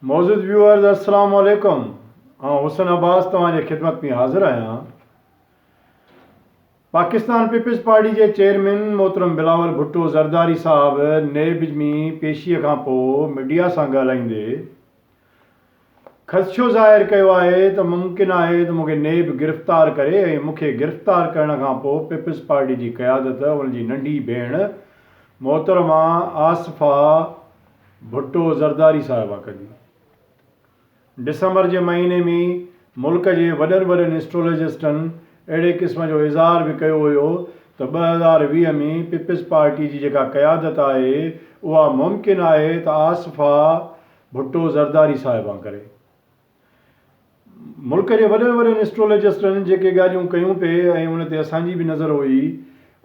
معزز ويوئرز السلام عليڪم آئون حسن عباس توهان جي خدمت ۾ حاضر آهيان پاڪستان پيپلز پارٽي جي چيئرمين محترم بلاول ڀٽو زرداري صاحب نيب ۾ پيشي کان پوء ميڊيا سان ڳالهائيندي خدشو ظاهر ڪيو آهي ته ممڪن آهي ته مون کي نيب گرفتار ڪري ۽ مون کي گرفتار ڪرڻ کان پوء پيپلز پارٽي جي قيادت ان جي ننڍي ڀيڻ محترمه آصفه ڀٽو زرداري صاحب آ ڪجي ڊسمبر جي مهيني ۾ ملڪ جي وڏن وڏن اسٽرولجسٽن اهڙي قسم جو اظهار به ڪيو هيو ته ٻه هزار ويهه ۾ پيپلز پارٽي جي جيڪا قيادت آهي اها ممڪن آهي ته آصفه ڀٽو زرداري صاحب آ ڪري ملڪ جي وڏن وڏن اسٽرولجسٽن جيڪي ڳالهيون ڪيون پي ۽ ان تي اسان جي به نظر هئي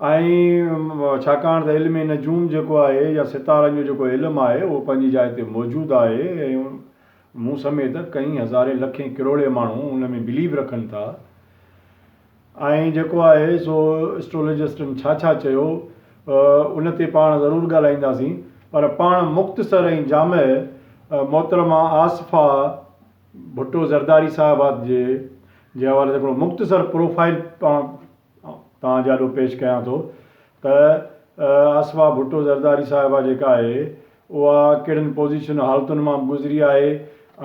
۽ ڇاڪاڻ ته علم نجوم جيڪو آهي يا ستارن جو جيڪو علم آهي اهو پنهنجي جاء تي موجود آهي ۽ مون سميت ڪئين هزارين لکين ڪروڙين ماڻهو ان ۾ بليو رکن ٿا. آئين جيڪو آهي سو اسٽرولجسٽن ڇا ڇا چيو ان تي پاڻ ضرور ڳالهائينداسين پر پاڻ مختصر ۽ جامع محترمه آصفه ڀٽو زرداري صاحبه جي جي حوالي سان هڪڙو مختصر پروفائيل پاڻ توهان جي آڏو پيش ڪيان ٿو ته آصفه ڀٽو زرداري صاحبه جيڪا آهي اها ڪهڙن پوزيشن حالتن مان به گذري آهي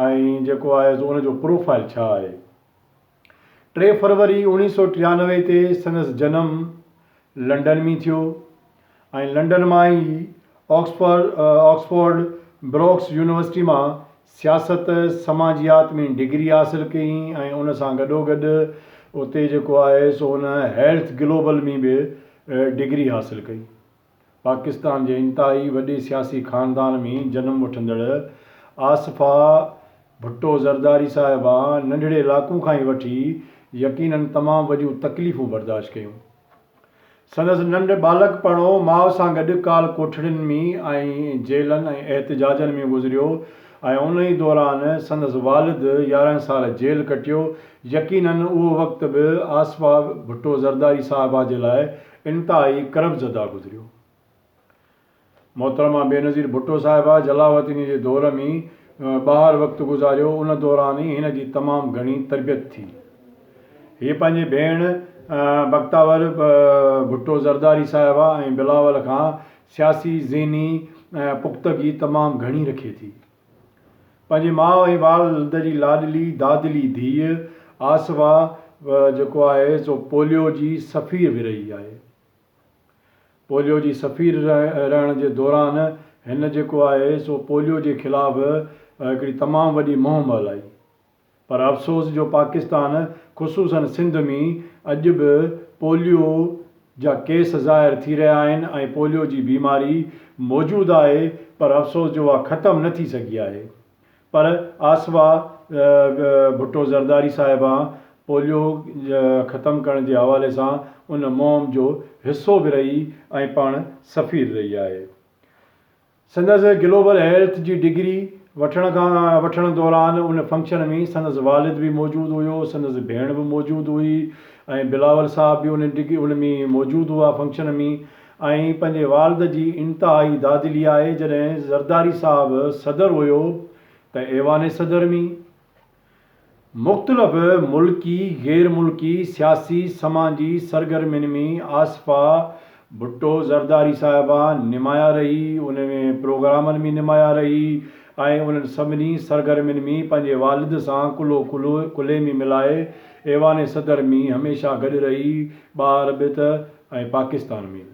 ۽ جيڪو آهي سو ان جو پروفائيل ڇا آهي. ٽي فروري اوڻيهه سؤ ٽيانوي تي سندس جنم لنڊن ۾ ٿيو ۽ لنڊن مان ئي آڪسفورڊ Oxford بروڪس يونيورسٽي مان سياست سماجيات ۾ ڊگري حاصل ڪئي ۽ ان سان گڏوگڏ اتي جيڪو آهي سو هن هيلٿ گلوبل ۾ به ڊگري حاصل ڪئي. پاڪستان جي انتهائي وڏي سياسي خاندان ۾ جنم وٺندڙ آصفه ڀٽو زرداري صاحبه ننڍڙي لاڪون کان ئي وٺي يقيناً تمام وڏيون تڪليفون برداشت ڪيون. سندس ننڍ ٻالڪپڻو ماء سان گڏ ڪال ڪوٺڙين ۾ ۽ جيلن ۽ احتجاجن ۾ گذريو ۽ ان ئي دوران سندس والد يارهن سال جيل ڪٽيو. يقيناً اهو وقت به آصفه ڀٽو زرداري صاحبه جي لاء انتهائي قرب زده گذريو. محترمه بينظير ڀٽو صاحبه جلاوطني جي دور ۾ ٻاهر وقت گذاريو ان دوران ئي هن جي تمام گهڻي تربيت ٿي. هيء پنهنجي ڀيڻ بختاور ڀٽو زرداري صاحبه ۽ بلاول کان سياسي ذهني پختگي تمام گهڻي رکي ٿي. پنهنجي ماء ۽ والد جي لاڏلي دادلي ڌيء آسوا جيڪو آهي سو پوليو جي سفير به رهي آهي. پوليو جي سفير رهڻ جي دوران هن جيڪو آهي سو پوليو جي خلاف هڪڙي تمام وڏي مهم هلائي. پر افسوس جو پاڪستان خصوصن سنڌ ۾ اڄ به پوليو جا ڪيس ظاهر ٿي رهيا آهن ۽ پوليو جي بيماري موجود آهي پر افسوس جو اها ختم نه ٿي سگهي آهي پر آصفه ڀٽو زرداري صاحبه پوليو ختم ڪرڻ جي حوالي سان ان مهم جو حصو به رهي ۽ پاڻ سفير رهي آهي. سندس گلوبل هيلٿ جي ڊگري وٺڻ کان وٺڻ دوران ان فنڪشن ۾ سندس والد به موجود هيو، سندس ڀيڻ به موجود هئي ۽ بلاول صاحب به ان ڊگري ان ۾ موجود هئا فنڪشن ۾ ۽ پنهنجي والد جي انتهائي دادلي آهي جڏهن زرداري صاحب صدر هيو ته ايوان صدر ۾. مختلف ملڪي، غير ملڪي سياسي سماجي سرگرمين ۾ آصفه ڀٽو زرداري صاحبه نمايان رهي، ان ۾ پروگرامن ۾ نمايان رهي ۽ انهن سڀني سرگرمين ۾ پنهنجي والد سان ڪلهو ڪلهي ۾ ملائي ايوان صدر ۾ هميشه گڏ رهي، ٻاهر به ته ۽ پاڪستان ۾ به.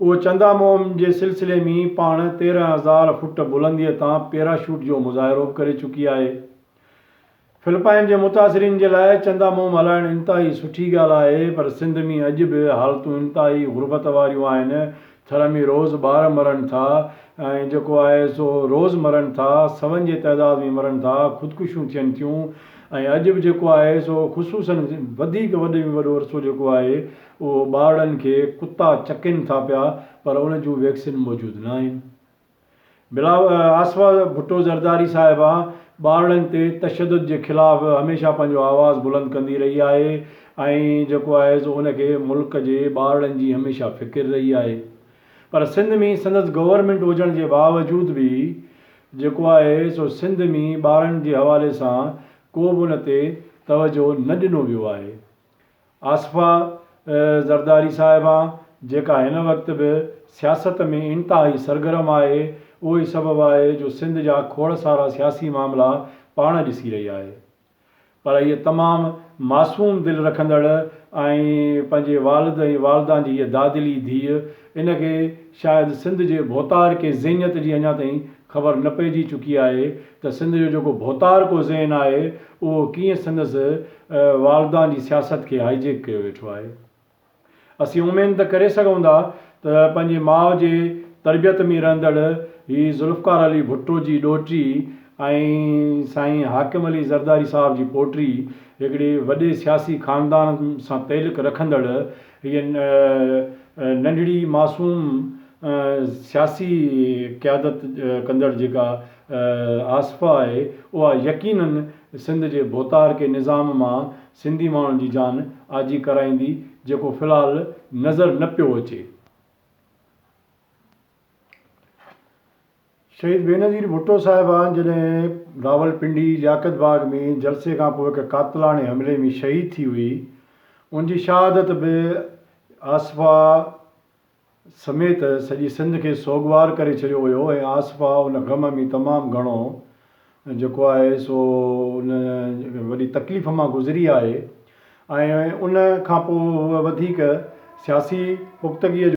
اهو چندا مهم جي سلسلي ۾ پاڻ تيرهن هزار فوٽ بلنديء تان پيراشوٽ جو مظاهرو به ڪري چڪي آهي. فلپائن جي متاثرين جي لاء چندا مهم هلائڻ انتهائي سٺي ڳالهه آهي پر سنڌ ۾ اڄ به حالتون انتهائي غربت واريون آهن، ٿر ۾ روز ٻار مرن ٿا ۽ جيڪو آهي سو روز مرن ٿا، سون جي تعداد ۾ مرن ٿا، خودڪشيون ٿين ٿيون ۽ اڄ به جيڪو آهي سو خصوصن وڌيڪ وڏي ۾ وڏو عرصو جيڪو آهي اهو ٻارڙن کي ڪتا چڪين ٿا پيا پر ان جون ويڪسين موجود ناهن. بلا آصفه ڀٽو زرداري صاحبه ٻارڙن تي تشدد جي خلاف هميشه پنهنجو آواز بلند ڪندي رهي آهي ۽ جيڪو آهي سو ان کي ملڪ جي ٻارڙن جي هميشه فڪر رهي آهي پر سنڌ ۾ سندس گورنمينٽ هجڻ جي باوجود به جيڪو آهي سو سنڌ ۾ ٻارڙن جي حوالي سان ڪو به ان تي توجهه نه ڏنو ويو آهي آصفه زرداري صاحبه جيڪا هن وقت به سياست ۾ انتهائي سرگرم آهي، اهو ئي سبب آهي جو سنڌ جا کوڙ سارا سياسي معاملا پاڻ ڏسي رهي آهي. پر هيء تمام معصوم دل رکندڙ ۽ پنهنجي والد ۽ والدان جي هيء دادلي ڌيء ان کي شايد سنڌ جي ڀوتارڪي ذهنيت جي اڃا تائين خبر نه پئجي چڪي آهي ته سنڌ جو جيڪو ڀوتارڪو ذهن آهي اهو ڪيئن سندس والدان جي سياست کي هائي جيڪ ڪيو ويٺو آهي. اسين اميد ته ڪري سگهون ٿا ته پنهنجي ماء جي تربيت ۾ رهندڙ هي ذوالفقار علي ڀٽو جي ڏوهٽي ۽ سائين حاڪم علي زرداري صاحب جي پوٽي هڪڙي وڏي سياسي خاندان سان تعلق رکندڙ هيء ننڍڙي معصوم سياسي قيادت ڪندڙ جيڪا آصفه آهي اها يقيناً سنڌ جي ڀوتار ڪي نظام مان سنڌي ماڻهن جي جان آجي ڪرائيندي جيڪو في الحال نظر نه پيو اچي. شهيد بينظير ڀٽو صاحبان جڏهن راولپنڊي لياقت باغ ۾ جلسي کان پوء هڪ قاتلاڻي حملي ۾ شهيد ٿي هئي ان جي شهادت به آصفه سميت سڄي سنڌ کي سوڳوار ڪري ڇڏيو هيو ۽ آصفه ان غم ۾ تمام گهڻو جيڪو آهي سو ان وڏي تڪليف مان گذري آهي ۽ ان کان پوء هوء وڌيڪ سياسي پختگيء جو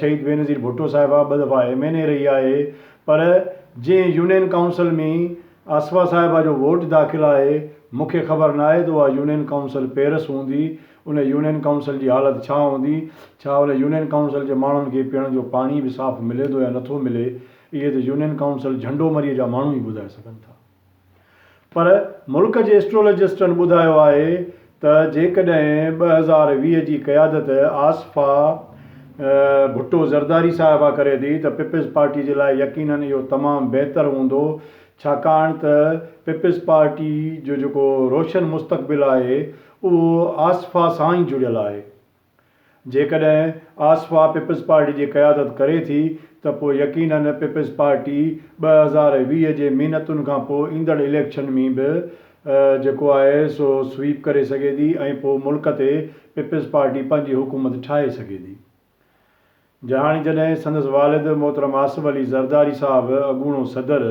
شهيد بينظير ڀٽو صاحبه ٻه دفعا ايم اين اي رهي آهي پر جنهن يونين ڪائونسل ۾ آصفه صاحبه جو ووٽ داخل آهي مون کي خبر ناهي ته اها يونين ڪائونسل پيرس هوندي ان يونين ڪائونسل جي حالت ڇا هوندي ڇا ان يونين ڪائونسل جي ماڻهن کي پيئڻ جو پاڻي به صاف ملي ٿو يا نٿو ملي اهي ته يونين ڪائونسل جهنڊومري جا ماڻهو ئي ٻڌائي سگهن ٿا. پر ملڪ جي اسٽرولجسٽن ٻڌايو آهي ته جيڪڏهن ٻه هزار ويهه جي قيادت آصفه ڀٽو زرداري صاحبه ڪري ٿي ته پيپلز پارٽي جي لاء يقينن اهو تمام بهتر هوندو ڇاڪاڻ ته پيپلز پارٽي جو جيڪو روشن مستقبل آهي اهو آصفه سان ئي جڙيل آهي. جيڪڏهن آصفا پيپلز پارٽي جي قيادت ڪري ٿي ته پوء يقيناً پيپلز پارٽي ٻه هزار ويهه جي محنتن کان پوء ايندڙ اليڪشن ۾ به جيڪو آهي سو سويپ ڪري سگهي ٿي ۽ پوء ملڪ تي پيپلز پارٽي پنهنجي حڪومت ٺاهي سگهي ٿي. جهاڻي جڏهن سندس والد محترم آصف علي زرداري صاحب اڳوڻو صدر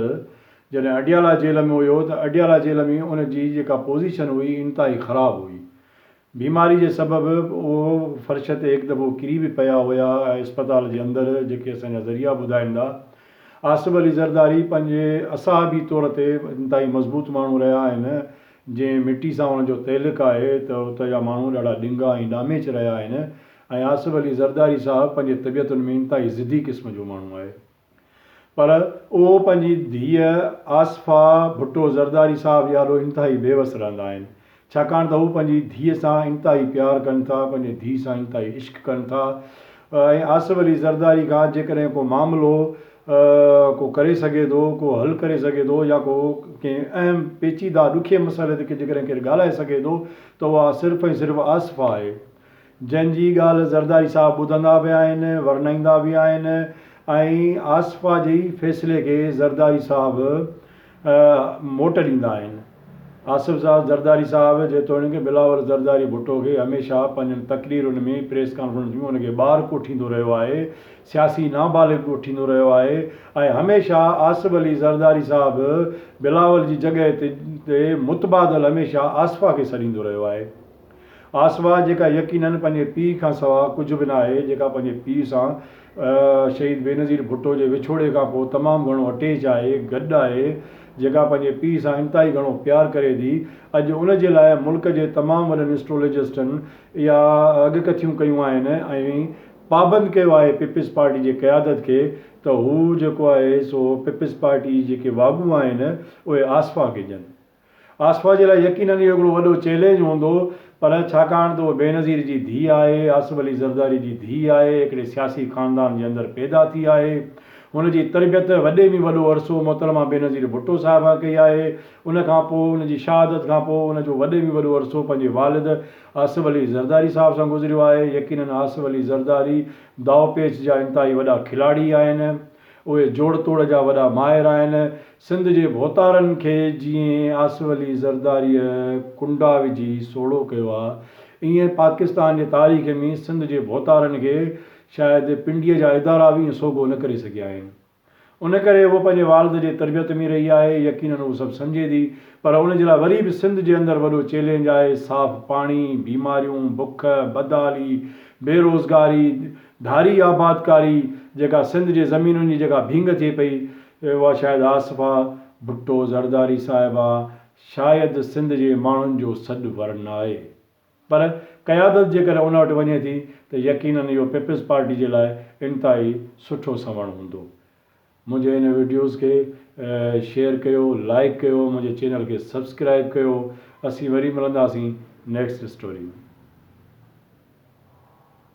جڏهن اڊيالا جيل ۾ هيو ته اڊيالا جيل ۾ ان جي جيڪا پوزيشن هئي انتهائي خراب هئي بيماري جي سبب اهي فرش تي هڪ دفعو ڪري به پيا هيا ۽ اسپتال جي اندر جيڪي اسان جا ذريعا ٻڌائين ٿا آصف علي زرداري پنهنجي اصحابي طور تي انتهائي مضبوط ماڻهو رهيا آهن جنهن مٽي سان ان جو تعلق آهي ته اتي جا ماڻهو ڏاڍا ڏنگا ۽ ڏاميچ رهيا آهن ۽ آصف علي زرداري صاحب پنهنجي طبيعتن ۾ انتهائي ضدي قسم جو ماڻهو آهي. پر اهو پنهنجي ڌيء آصفه ڀٽو زرداري صاحب جي آڏو انتهائي بيوس رهندا آهن، ڇاڪاڻ ته هو پنهنجي ڌيء سان انتهائي پيار ڪن ٿا، پنهنجي ڌيء سان انتهائي عشق ڪن ٿا ۽ آصف علي زرداري کان جيڪڏهن ڪو معاملو ڪو ڪري سگهي ٿو، ڪو حل ڪري سگهي ٿو يا ڪو ڪنهن اهم پيچيده ڏکئي مسئلي تي جيڪڏهن ڪير ڳالهائي سگهي ٿو ته اها صرف ۽ صرف آصفه آهي. جنهن جي ڳالهه زرداري صاحب ٻڌندا به آهن، ورنائيندا به آهن ۽ آصفه جي فيصلي کي زرداري صاحب موٽ ڏيندا آهن. آصف صاحب زرداري صاحب جيتوڻيڪ بلاول زرداري ڀٽو کي هميشه پنهنجن تقريرن ۾ پريس ڪانفرنس ۾ ان کي ٻار ڪوٺيندو رهيو آهي، سياسي نابالغ ڪوٺيندو رهيو آهي ۽ هميشه آصف علي زرداري صاحب بلاول جي جڳهه تي متبادل هميشه آصفه کي سڏيندو رهيو آهي. آسوه جيڪا يقينن پنهنجي پيء کان سوا ڪجهه به ناهي، جيڪا پنهنجي پيء سان شهيد بينظير ڀٽو جي وڇوڙي کان پوء تمام گهڻو اٽيچ آهي، گڏ آهي، جيڪا پنهنجي پيء سان انتهائي گهڻو پيار ڪري ٿي، اڄ ان جي لاء ملڪ جي تمام وڏن اسٽرولجسٽن اها اڳڪٿيون ڪيون آهن ۽ پابند ڪيو آهي پيپلز پارٽي جي قيادت کي ته هو جيڪو آهي سو پيپلز پارٽي جي جيڪي واڳون آهن اهي آسوه کي ڏين. آصفه جي لاء يقينن اهو هڪڙو وڏو چئلينج هوندو پر ڇاڪاڻ ته هوء بينظير جي ڌيء آهي، آصف علي زرداري جي ڌيء آهي، هڪڙي سياسي خاندان جي اندر پيدا ٿي آهي، هن جي تربيت وڏي ۾ وڏو عرصو محترمه بينظير ڀٽو صاحبه ڪئي آهي، ان کان پوء ان جي شهادت کان پوء ان جو وڏي ۾ وڏو عرصو پنهنجي والد آصف علي زرداري صاحب سان گذريو آهي، يقينن آصف علي زرداري داء پيچ جا انتهائي وڏا کلاڙي آهن، اهي جوڙ توڙ جا وڏا ماهر آهن، سنڌ جي ڀوتارن کي جيئن آصف علي زرداريء ڪنڊا وجهي سوڙهو ڪيو آ، ايئن پاڪستان جي تاريخ ۾ سنڌ جي ڀوتارن کي شايد پنڊيء جا ادارا به ايئن سوگهو نه ڪري سگهيا آهن. ان ڪري هوء پنهنجي والد جي تربيت ۾ رهي آهي، يقينن هوء سڀ سمجهي ٿي، پر ان جي لاء وري به سنڌ جي اندر وڏو چئلينج آهي، صاف پاڻي، بيماريون، بک، بدحالي، بي روزگاري، ڌاري آبادڪاري، جيڪا سنڌ جي زمينن جي جيڪا ڀينگ ٿئي پئي، اهي هئا شايد آصفه ڀٽو زرداري صاحبه شايد سنڌ جي ماڻهن جو سڏ ورنائي پر قيادت جيڪڏهن ان وٽ وڃي ٿي ته يقينن اهو پيپلز پارٽي جي لاء انتهائي سٺو سنئوڻ هوندو منهنجي هن ويڊيوز کي شيئر ڪيو لائيڪ ڪيو منهنجي چينل کي سبسڪرائيب ڪيو اسين وري ملنداسين نيڪسٽ اسٽوري ۾.